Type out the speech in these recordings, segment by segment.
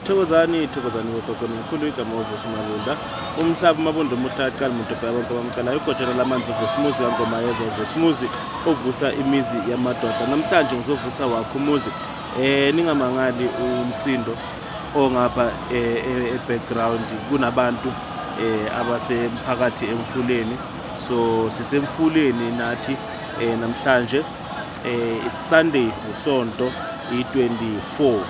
Thokozani thokozani bogogo nomkhulu igama uvusi mabunda umhlaba umabunda omuhle aqala umuntu obheka bonke abamcalayo igojana lamanzi uvusi muzi kangoma yeza uvusi muzi ovusa imizi yamadoda namhlanje ngizovusa wakho umuzi eh ningamangali umsindo ongapha eh, e-, e-background kunabantu eh, abasemphakathi emfuleni so sisemfuleni nathi eh, namhlanje Eh it's Sunday usonto i24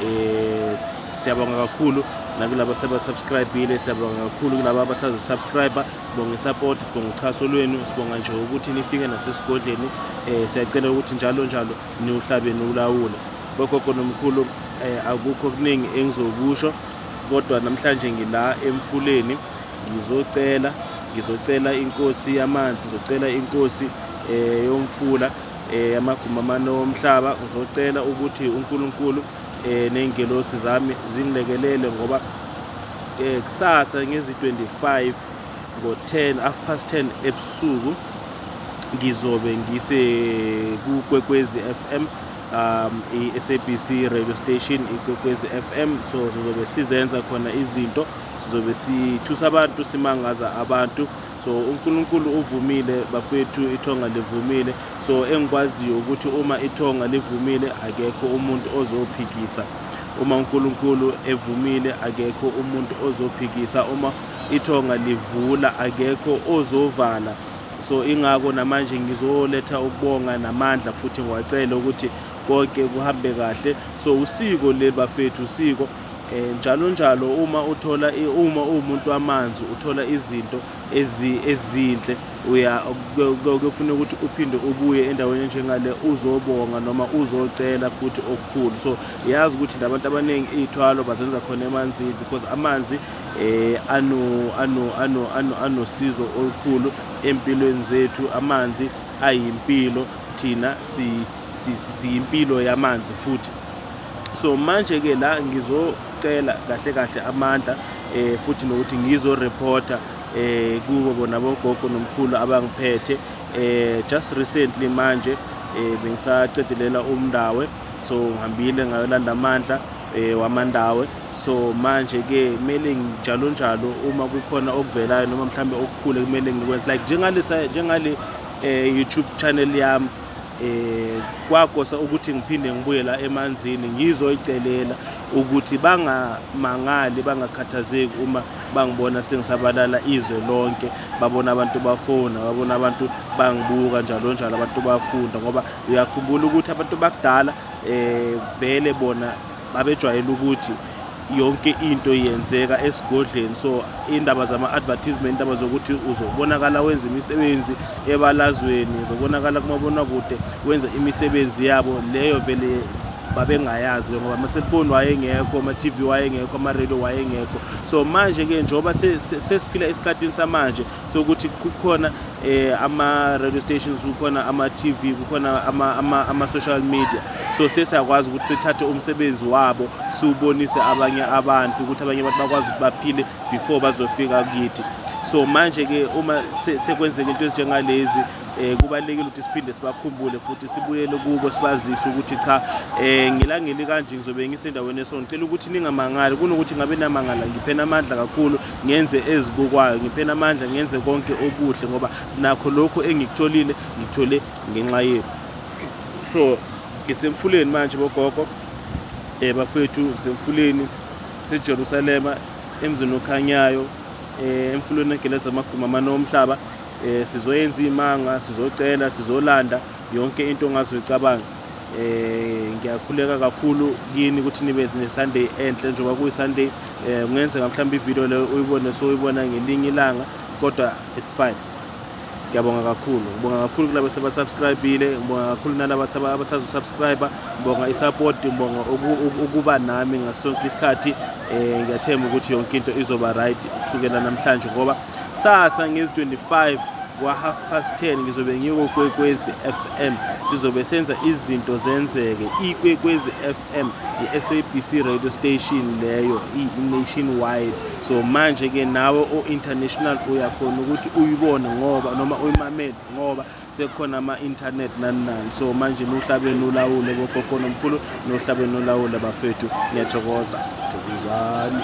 eh siyabonga kakhulu nakulabo sebasubscribile siyabonga kakhulu kulabo abasazosubscribe sibonga isupport sibonga uchaso lwenu sibonga nje ukuthi nifike nasesigodleni eh siyacela ukuthi njalo njalo niwuhlabeni ulawule kogogo nomkhulu eh akukho kuningi engizokusho kodwa namhlanje ngila emfuleni ngizocela ngizocela inkosi yamanzi ngizocela inkosi eh yomfula eh amaguma amane omhlaba ngizocela ukuthi uNkulunkulu eh nengelosi zami zingilekelele ngoba eh kusasa ngezi 25 ngo 10 half past 10 ebusuku ngizobe ngise kukwekwezi FM um i-SABC radio station ikwekwezi FM so sizobe sizenza khona izinto sizobe sithusa abantu simangaza abantu so uNkulunkulu uvumile bafethu ithonga livumile so engikwaziyo ukuthi uma ithonga livumile akekho umuntu ozophikisa uma uNkulunkulu evumile akekho umuntu ozophikisa uma ithonga livula akekho ozovala so ingako namanje ngizoletha ukubonga namandla futhi ngiwacele ukuthi konke kuhambe kahle so usiko leli bafethu usiko um njalo njalo uma uthola uma uwumuntu wamanzi uthola izinto ezinhle uya kuyofuneka ukuthi uphinde ubuye endaweni enjengale uzobonga noma uzocela futhi okukhulu so yazi ukuthi labantu abaningi iy'thwalo bazenza khona emanzini because amanzi eh ano ano ano ano anosizo olukhulu empilweni zethu amanzi ayimpilo thina si siyimpilo yamanzi futhi so manje ke la ngizocela kahle kahle amandla eh futhi nokuthi ngizo reporter eh kubo bona bogogo nomkhulu abangiphethe eh just recently manje eh bengisaqedelela umndawe so ngihambile ngayolanda amandla eh wamandawe so manje ke kumele njalo njalo uma kukhona okuvelayo noma mhlambe okukhulu kumele ngikwenze like njengalesa njengale eh YouTube channel yami eh kwakosa ukuthi ngiphinde ngibuye la emanzini ngizoyicelela ukuthi bangamangali bangakhathazeki uma bangibona sengisabalala izwe lonke babona abantu bafona babona abantu bangibuka njalo njalo abantu bafunda ngoba uyakhumbula ukuthi abantu bakudala eh vele bona babejwayele ukuthi yonke into yenzeka esigodleni so indaba zama-advertisement indaba zokuthi uzobonakala wenza imisebenzi ebalazweni uzobonakala kumabonakude wenza imisebenzi yabo leyo vele babengayazi ngoba ama-cellphone wayengekho ama-tv wayengekho ama-radio wayengekho so manje-ke njengoba sesiphila esikhathini samanje sokuthi kukhona eh ama radio stations kukhona ama TV kukhona ama ama, ama social media so sesiyakwazi ukuthi sithathe umsebenzi wabo siwubonise abanye abantu ukuthi abanye abantu bakwazi ukuthi baphile before bazofika kithi so manje ke uma sekwenzeka into ezinjengalezi eh kubalekile ukuthi siphinde sibakhumbule futhi sibuyele kubo sibazise ukuthi cha eh ngilangeli kanje ngizobe ngisendaweni esona ngicela ukuthi ningamangali kunokuthi ngabe namangala ngiphena amandla kakhulu ngenze ezibukwayo ngiphena amandla ngenze konke okuhle ngoba nakho lokhu engikutholile ngikuthole ngenxa yenu so ngisemfuleni manje bogogo um bafethu ngisemfuleni sejerusalema emzini okhanyayo um emfuleni egeleza amaguma amane omhlaba um sizoyenza iy'manga sizocela sizolanda yonke into ongazoyicabanga eh ngiyakhuleka kakhulu kini ukuthi nibe neSunday enhle njengoba kuyiSunday eh kungenzeka mhlawumbe ivideo leyo uyibone so uyibona ngelinye ilanga kodwa it's fine ngiyabonga kakhulu ngibonga kakhulu kulabo sebasubscribile ngibonga kakhulu nalaba abasazosubscribe ngibonga isupport ngibonga ukuba nami ngasonke isikhathi um ngiyathemba ukuthi yonke into izoba right kusukela namhlanje ngoba Sasa ngezi 25 kwa half past 10 ngizobe ngiko Kwekwezi FM sizobe senza izinto zenzeke iKwekwezi FM iSABC radio station leyo i-nationwide so manje ke nawe o-international uyakhona ukuthi uyibone ngoba noma uyimamele ngoba sekukhona ama-internet nani nani so manje nohlabeni ulawule bogogo nomkhulu nohlabeni olawule bafethu ngiyathokoza thokozani